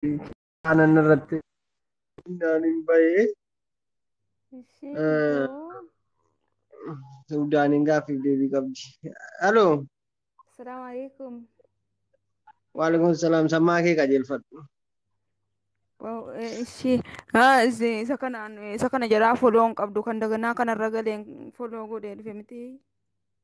aanan irratti naan hin bahee Ishii Eh. iyyuu. suudaaniin gaaffiif deebii qabdi. Halo Assalaamu alaikum. waalaikum salaam sammaa kee qajeelfadhu. Wow, eh, ishii ah, isi- isa kanaan isa kana jalaa foloo hin qabdu kan daganaa kanarra galeen foloo godhee dhufe miti.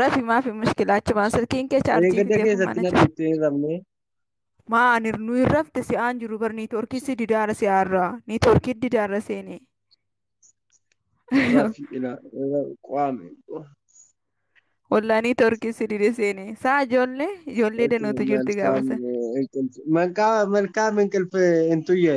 Rafi maafi mushkilaa achumaan silkiin kee chaarjii Eegada fidee keessatti kumaana na jira. dhiiftee hin rafne. Maa ani nu hin rafte si aan jiru bar niitoorkii si didaara si aarraa niitoorkii didaara seene. Rafi ila ila qaame. Wallaa niitoorkii si dide seene. Saa ijoollee ijoollee danuutu jirti gaafa sana. Malkaa malkaa minqilfe hin tuyye.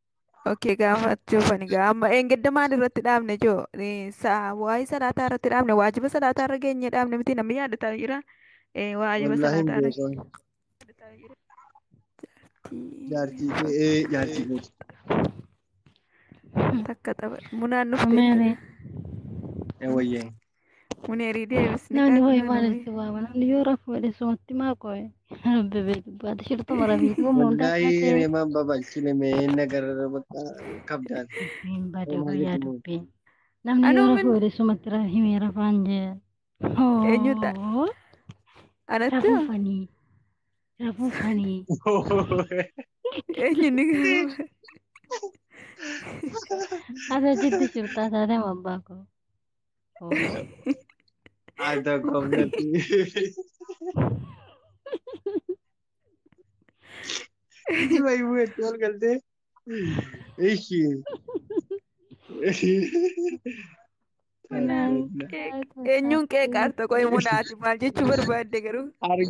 Okay, gaafachuuf ani gaa amma eengedda maal irratti dhaabne joo waa'ee salaataa irratti dhaabne waajiba salaataa irra geenye dhaabne miti namni yaadataa jira Eh, waajiba Wallaahi hin salaataa irra beeku. Jaartii kee ee jaartii kee. takka tapha munaan dhufte Umeere. Ee wayyee. Muneerii deebisni Namni hoo'e maal kaasnaan itti waama? Namni yoo rafu jedhe sumatti maa qo'e? Rabbi beeku baate shirtuma rafiiti waan hundaa Wallahi taatee reemaan babalchine mee inni agarra bakka kabdaan. dubbiin bade Reemaa guyyaa jechuun dubbiin. Namni Anuu yoo rafu min- jedhe sumatti ra- himee rafaan jee. Eenyu ta'a? Hoo, anatti Rafuu hoo? fanii. Rafuu fanii. eenyu ni gaafa? Ati achitti shirtaa taatee abbaa koo. Al tokko natti. Jima himuu itti ol galtee. Ishi. Eenyuun qeeqaarta qo'e munaati maal jechuu barbaadde garuu? Argi.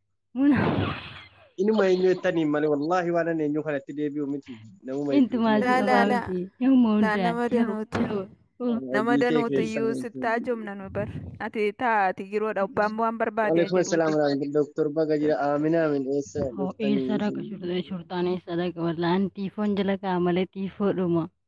Muna. Inuma eenyu jettaniin malee wallaahi waan ani eenyu kanatti deebi'u miti namuma hedduu Intumaa si Laa, laa, qabaa laa. miti. Namuma Laa hundaa. nama danuutu nama Hojii kee danuutu keessa iyyuu galtee. sittaa jomna nu bar ati taa ati jiroodha abbaan waan barbaade Waalaikum jedhu assalam warahmatullahi Doktor Baga jira Amin Amin eessa Hoo dhuftanii eessa dhaqa isin shurxaan eessa dhaqa wallaa an tiifoon jala ka'a malee tiifoo dhuma.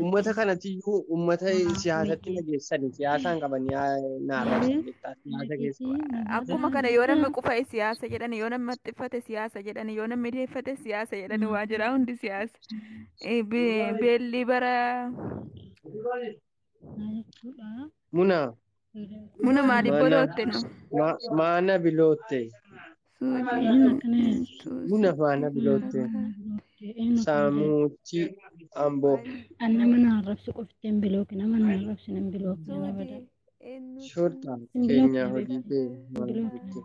Uummata kanatiyyuu uummata Haa, siyaasatti miti. nageessani siyaasaan qabanii naarraa Malee, jechaa siyaasa keessa. Akkuma kana yoo namni qufa'e siyaasa jedhani, yoo namni maxxiffate siyaasa jedhani, yoo namni deeffate siyaasa jedhani waa jira hundi siyaasa. Eh, be- Beelli bara Muna. Muna maali Maana- bolootte no. ma- Maana bilootte. Muna maana bilootte. Saamuutti amboo. An nama na arrabsu qofti hin bilooke nama na arrabsin hin bilooke nama bada. Shorta keenyaa hojii kee maal jettee?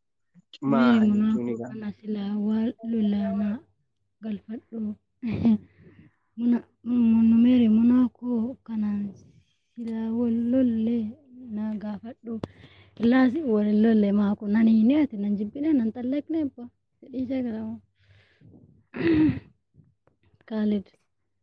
Maali Munaafoo jechuun egaa? kana silaa waa lolaanaa galfadhu. Muna numere munaafoo kanaan silaa wal lolle na gaafadhu. Laas wal hin lolle maa kun ani hin yaate nan jibbine nan xallaqne abba. Fedhii jagaramoo. Kaalid.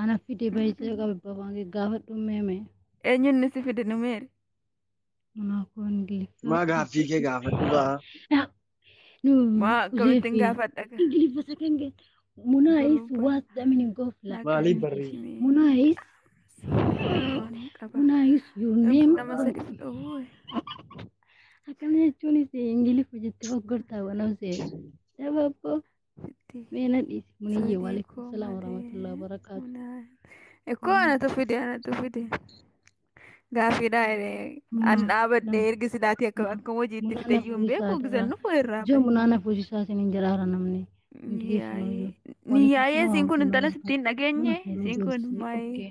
Ana fide baay'ee qaba babaan gaafadhu meeme. Eenyuun ni si fide numeeri? Manaa koo ingiliffa. Maa gaaffii kee gaafadhu baa. Maa akkamittiin gaafadha gaa? Ingiliffa second get. Munaa is what the meaning of life. Maalii barrii? Munaa is Munaa is your name. Nama sadii fudhoo. Akkana jechuunis ingiliffa jettee fakkootaa waan hawsee. Dabaaboo. Sitti. Meena dhiisi. Muniyye waalaikum salaam warahmatullahi wabarakaatu. Ikkoo anatu fide anatu fide. Gaaffiidhaa an dhaabadhe ergi silaatii akka akka hojiitti Munaa fide iyyuu hin beeku nafuusisaa gisan dhufu irraa. Ija munaa nafuusisaa isin hin jedhaara namni. Niyyaayee siin kun intala sitti hin dhageenye siin kun maayee.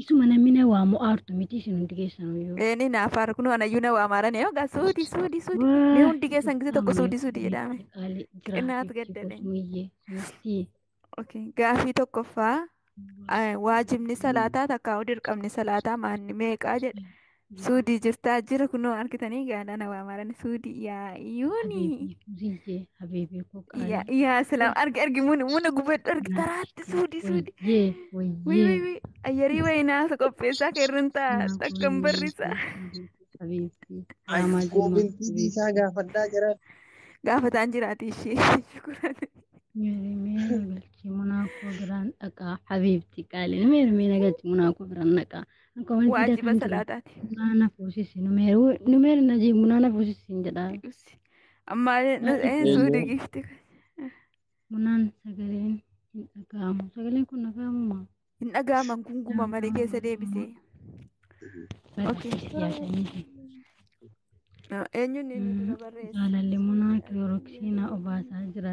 Isuma namni na waamu aartu miti isin hundi keessanuu yoo. Eeni naaf haara kunoo anayyuu na waamaarani yoo gaa suudi suudi suudi mee hundi keessan gisee tokko suudi suudi jedhaame. Qinaat gaddadhe. Gaafii tokkoffaa waajibni salaataa takkaa dirqamni salaataa maanni meeqaa jedha. Suudii jirtaa jira kunoo argitanii gaadhaan waa maarani suudii yaa yuuni. Habiibii Fuziyyee habiibii koo Yaa qaalii. yaa salaam argi argi muna muna gubadhu argi taraatti suudii suudii. Wayyee Wii wii wayyee. wii ayyarii wayii naasa qopheessaa keerran taa Naaf takkan wayii barrisa. wayii habiibii. Ay, Raamaa jimmaa koomentii habiibii. dhiisaa gaafadhaa jira. Gaafataan jiraati ishee shukuran. Meerimee nagalchii munaa koo biraan dhaqaa habiibti qaaliin meerimee nagalchii munaa koo biraan dhaqaa. Akka wanti waajiba dakan jiru. salaataati Bunaa na fuusisi. Numeeru numeeru na jee bunaa na fuusisi hin jedhaa. Usi. amma nu Maaliif een suu Eeyyee. digiifti bunaan sagaleen hin dhaga'amu. Sagaleen kun dhaga'amu maa? hin dhaga'aman kun guma malee keessa deebisee Okay. Ah, eenyuun inni dura barreesse Jaalalli munaa kilooroksii na obaasaa jira.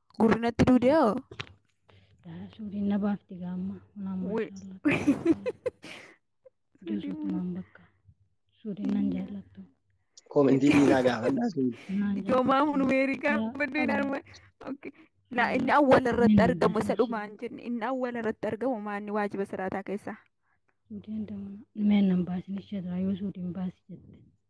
Gurri natti duudee hoo? Yaa suudiin na baafti gaamma. Unaa Wee. maashaallah. Joosuutumaan bakka. Suudiin nan jaallattu. Koomentii dhiisaa gaafadhaa sun. Naan jaallattu. Joomaa hunu meerii gaafadhu hin arma. Okay. La inni awwala irratti Inni argamu isa jaallattu. dhumaan jenne inni awwala irratti argamu maanni waajiba salaataa keessaa. Suudiin damana. Meen nan baasin ishee irraa yoo suudiin baasi jette.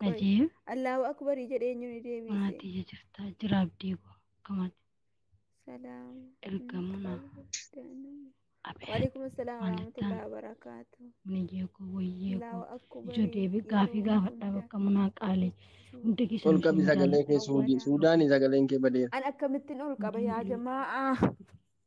Qoy. Ajeeb. Allahu akbarii jedhee eenyu ni deebiise. Maatii ija jirtaa jira abdii koo. Akkamaati. Salaam. Ergamuna. Abeet. Waalaikum assalam Maal warahmatullahi jettaan? wabarakatuh. Muniyee koo wayyee Allahu koo. akbarii. Ijoo deebi gaafii yeroo gaafadhaa hunda bakka munaa qaalee. jechuu. Hundi Ol keessan qabi isin sagalee jaalladha. kee Suudii. Suudaanii sagaleen kee badeera. An akkamittiin ol qaba yaa jamaa'a.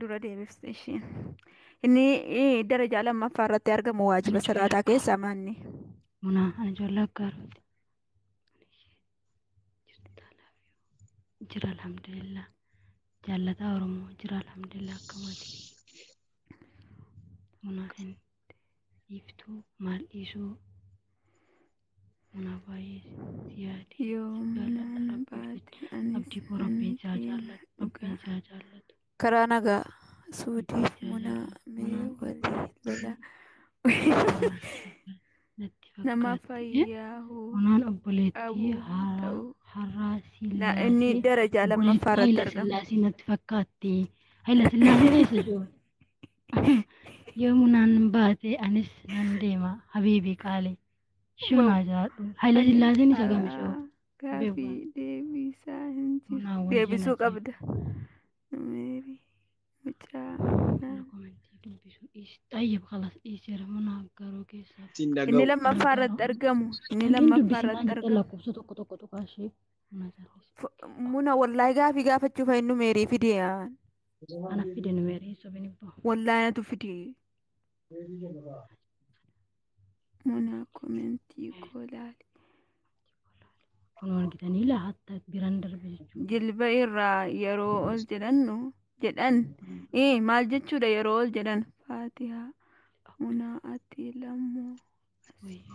dura deebifte ishiin. Inni eh, darajaa lammaffaa irratti argamu waajiba salaataa keessaa maanni. Munaa ani ijoollee aggaaruuti. Jira alhamdulillah. Jaallataa Oromoo jira alhamdulillah akkamaati. Munaa hin Dhiiftuu maal dhiisuu manaa baay'ee si yaade Yoo mana baate anis abdii koo rabbiin isaa nan jaallatu dhugaa. rabbiin isaa jaallatu karaa nagaa suudiif munaa mee walii lola natti nama fakkaatti jedhe. fayyaa hoo Munaan obboleettii Abuu haaraa ta'uu. har'aa na inni sillaasee darajaa lammaffaa irratti Haila argama. Sillaasee natti fakkaatti. Haila Sillaasee eessa jiru? Yoo munaan baate anis nan deema habiibi qaali. Shuu naa jiraadhu. Haile Sillaaseen isa gami shuu. Gaafii deebisaa hin jiru. Munaan wayya Deebisuu nati. qabda. Meeri mucaa munaa. Komentii dubbisu dhiis. Xayyib kalas dhiiseera munaa garuu keessaa. Siin Inni dhaga'u. lammaffaa irratti argamu. Inni Komentiin lammaffaa dubbisi irratti maal jedha argamu. lakkoofsa tokko tokko tuqaa ishee munaa jiraadhu. F- Muna wallaahi gaafii gaafachuuf eenyu meerii fidee? Ana fide numerii sobin ibbo. Wallahi natu fide. Muna komentii koo laali. Kun argitanii laa hatta biran darbe jechuudha. Jilba irraa yeroo ol jedhannu jedhan ee maal jechuudha yeroo ol jedhan faatihaa munaa ati lammoo. Wayyo.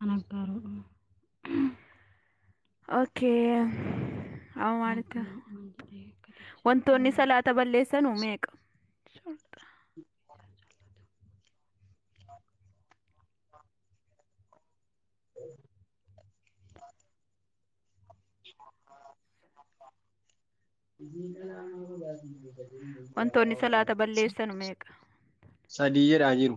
Ana gaaruu. Okay. Amma maalitti wantoonni salaata balleessanu meeqa? Wantoonni salaata balleessanu meeqa? Sadii jedhaa jiru.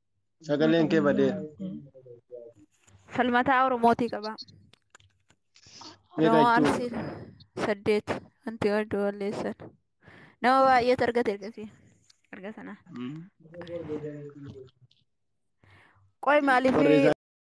Sagaleen kee badee. Falmataa Oromootii qaba. Meeqa Oromoo jechuun? Arsii saddeet wanti warri balleessan. Nama baay'eetu argate ergasii. Erga sanaa. Qoy maaliif Barreessaa